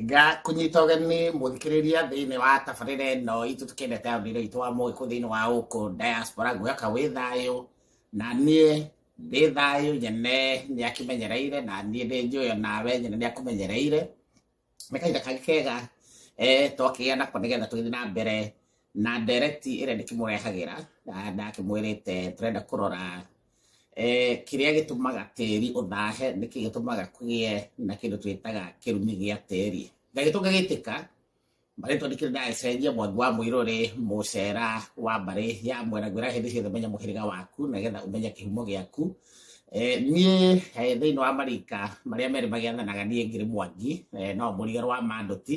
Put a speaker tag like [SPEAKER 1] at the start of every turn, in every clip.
[SPEAKER 1] nga kunyita ugeni muthikiriria thiini wa tabarira ino itu tukendete andire itu wa mugiku thiini wa guku diaspora ngwaka wi thayu na nie ndi thayu nyene ni akimenyereire na nie ndi njuyo nawe nyene ni akumenyereire ni kahinda kangi kega eh twakigia nako nigetha tugithi na mbere na ndereti ĩrĩa ndĩkĩmũrehagira na ndakĩmwĩrĩte tũrenda kũrora kĩrĩa gĩtũmaga tĩri ũthahe nĩkĩ gĩtũmaga kũgĩe na kĩndũ twĩtaga kĩrumi gĩa tĩri gagĩtũ gagĩtĩka marĩtwa nĩkĩrĩ ndacenjia mwangi wa mũirũ rĩ mũcera wa mbarĩ ya mwena ngwĩra hĩndĩ ciothe menya mũhĩrĩga waku nagetha ũmenye kĩhumo gĩaku niĩ thĩinĩ wa marika marĩa merĩ magĩathanaga niĩ ngĩrĩ mwangi no mũriga rwa mandũti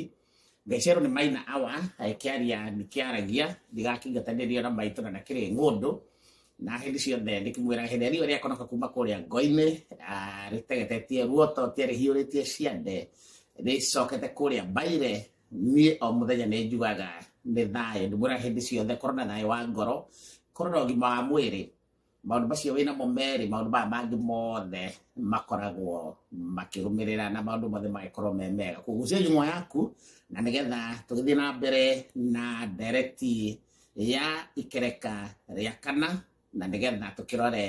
[SPEAKER 1] Gacero nĩ maina awa kĩaria nĩ kĩaragia ndigakĩingatanĩrio na maitũ na nakĩrĩ ng'ũndũ na hĩndĩ ciothe ndĩkĩmwĩra hĩndĩ riũa rĩakonoka kuma kũrĩa ngoinĩ ah, rĩtegetetie ruoto tia rĩhiũrĩtie ciande rĩcokete kũrĩa mbaire niĩ o mũthenya nĩ njugaga nĩ thayũ ndĩmwĩra hĩndĩ ciothe korwo na thayũ wa ngoro korwo na ũgima wa mwĩrĩ maũndũ macio wĩna mo merĩ maũndũ maya mangĩ mothe makoragwo makĩrũmĩrĩra na maũndũ mothe magĩkorwo me mega kũgucia nyũmwa yaku na nĩgetha tũgĩthiĩ na mbere na ndereti ya ikereka rĩa kana na nĩgetha tũkĩrore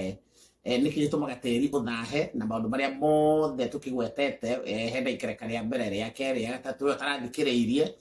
[SPEAKER 1] eh, nĩkĩ gĩtũmaga tĩri ũthahe na maũndũ marĩa mothe tũkĩgwetete eh, hena ikereka rĩa mbere rĩa kerĩ rĩa gatatũ ũrĩa ũtarathikĩrĩirie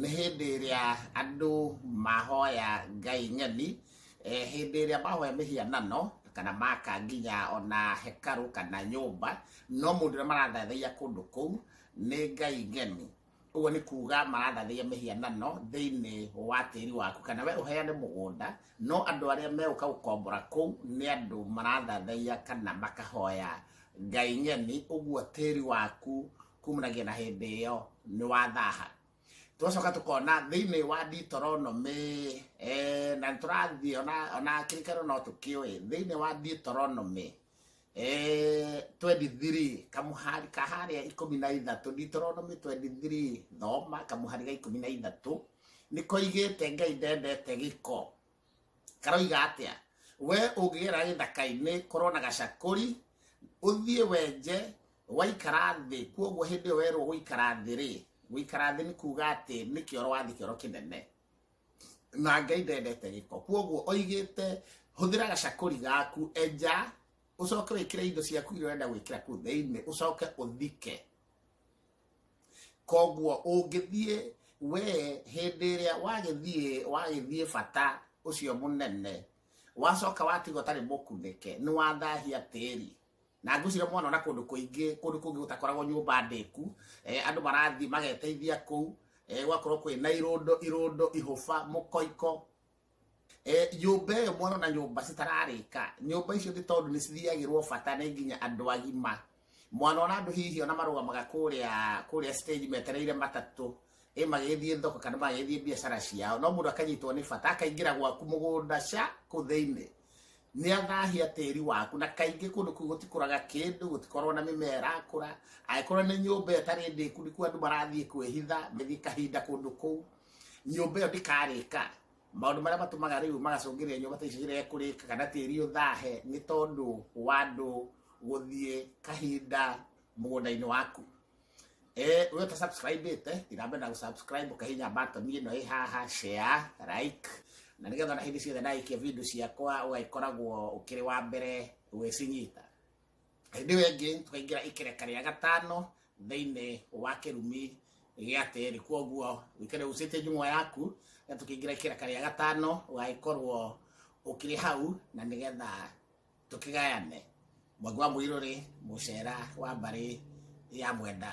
[SPEAKER 1] nĩ hĩndĩ ĩrĩa andũ mahoya ngai ng'eni eh, hĩndĩ ĩrĩa mahoya mĩhianano kana maka nginya ona hekaru kana nyũmba no mũndũ ũrĩa marathathaiya kũndũ kũu nĩ ngai ng'eni ũguo nĩ kuga marathathaiya mĩhianano thĩinĩ wa tĩri waku kana we ũheane mũgũnda no andũ arĩa megũka gũkombora kũu nĩ andũ marathathaiya kana makahoya ngai ng'eni ũguo tĩri waku kumanagia na hĩndĩ ĩyo nĩ wathaha twacoka tũkona thĩinĩ wa Deuteronomy eh, na tũrathiĩ ona ona kĩrikano no tũkĩũĩ thĩinĩ wa Deuteronomy eh, 23 kamuhari ka harĩa ikũmi na ithatũ Deuteronomy 23 thoma kamuhari ga ikũmi na ithatũ nĩ koigĩte ngai ndendete gĩko karoiga atia we ũngĩgera gĩthaka-inĩ korwo na gacakũri ũthiĩ wenje waikara thĩ kuoguo hĩndĩ ĩyo werwo gũikara thĩ rĩ gũikara thĩ nĩ kuga atĩ nĩ kĩoro wathi kĩoro kĩnene na ngai ndendete gĩko kuoguo oigĩte hũthĩra gacakũri gaku enja ũcoke wĩkĩre indo ciaku iria ũrenda gwĩkĩra kuu thĩinĩ ũcoke ũthike koguo ũngĩthiĩ we hĩndĩ ĩrĩa wagĩthiĩ wagĩthiĩ bata ũcio mũnene wacoka watiga ũtarĩ mũkunĩke nĩ wathahia tĩri na ngwĩcira mwana ona kũndũ kũingĩ kũndũ kũngĩ gũtakoragwo nyũmba ndĩku eh, andũ marathiĩ mageteithia kũu eh, gwakorwo kwĩ na irũndo irũndo ihũba mũkoiko Eh, nyũmba ĩyo mwana na nyũmba citararĩka nyũmba icio nĩ tondũ nĩ cithiagĩrwo bata nĩ nginya andũ agima mwana ona andũ hihi ona marũgamaga kũrĩa kũrĩa stage metereire matatũ ĩ magĩthiĩ thoko kana magĩthiĩ biacara ciao no mũndũ akanyitwo nĩ bata akaingĩra gwaku mũgũnda ca kũ thĩinĩ nĩ athahia tĩri waku na kaingĩ kũndũ kũu gũtikũraga kĩndũ gũtikorwo na mĩmera ĩrakũra angĩkorwo nĩ nyũmba ĩyo ĩtarĩ ndĩku nĩkuo andũ marathiĩ kwĩhitha mĩthiĩ kahinda kũndũ kũu nyũmba ĩyo ndĩkarĩka maũndũ marĩa matũmaga rĩu magacũngĩrĩria nyũmba ta icio cirege kũrĩka kana tĩri ũthahe nĩ tondũ wa andũ gũthiĩ kahinda mũgũnda-inĩ waku Eh, we ta subscribe ite tirambe na gũsubscribe ũkahinya button ĩno ĩ haha share like na nĩgetha na hĩndĩ ciothe ndagĩkia video ciakwa ũgagĩkoragwo ũkĩrĩ wa mbere gwĩcinyita hĩndĩ ĩyo ĩngĩ tũkaingĩra ikereka rĩa gatano thĩinĩ wa kĩrumi gĩa tĩri kwoguo wĩkĩre ucĩtie njung'wa yaku na tũkĩingĩra ikereka rĩa gatano ũgagĩkorwo ũkĩrĩ hau na nĩgetha tũkĩgayane mwangi wa mũirũrĩ mũcera wa mbarĩ ya mwenda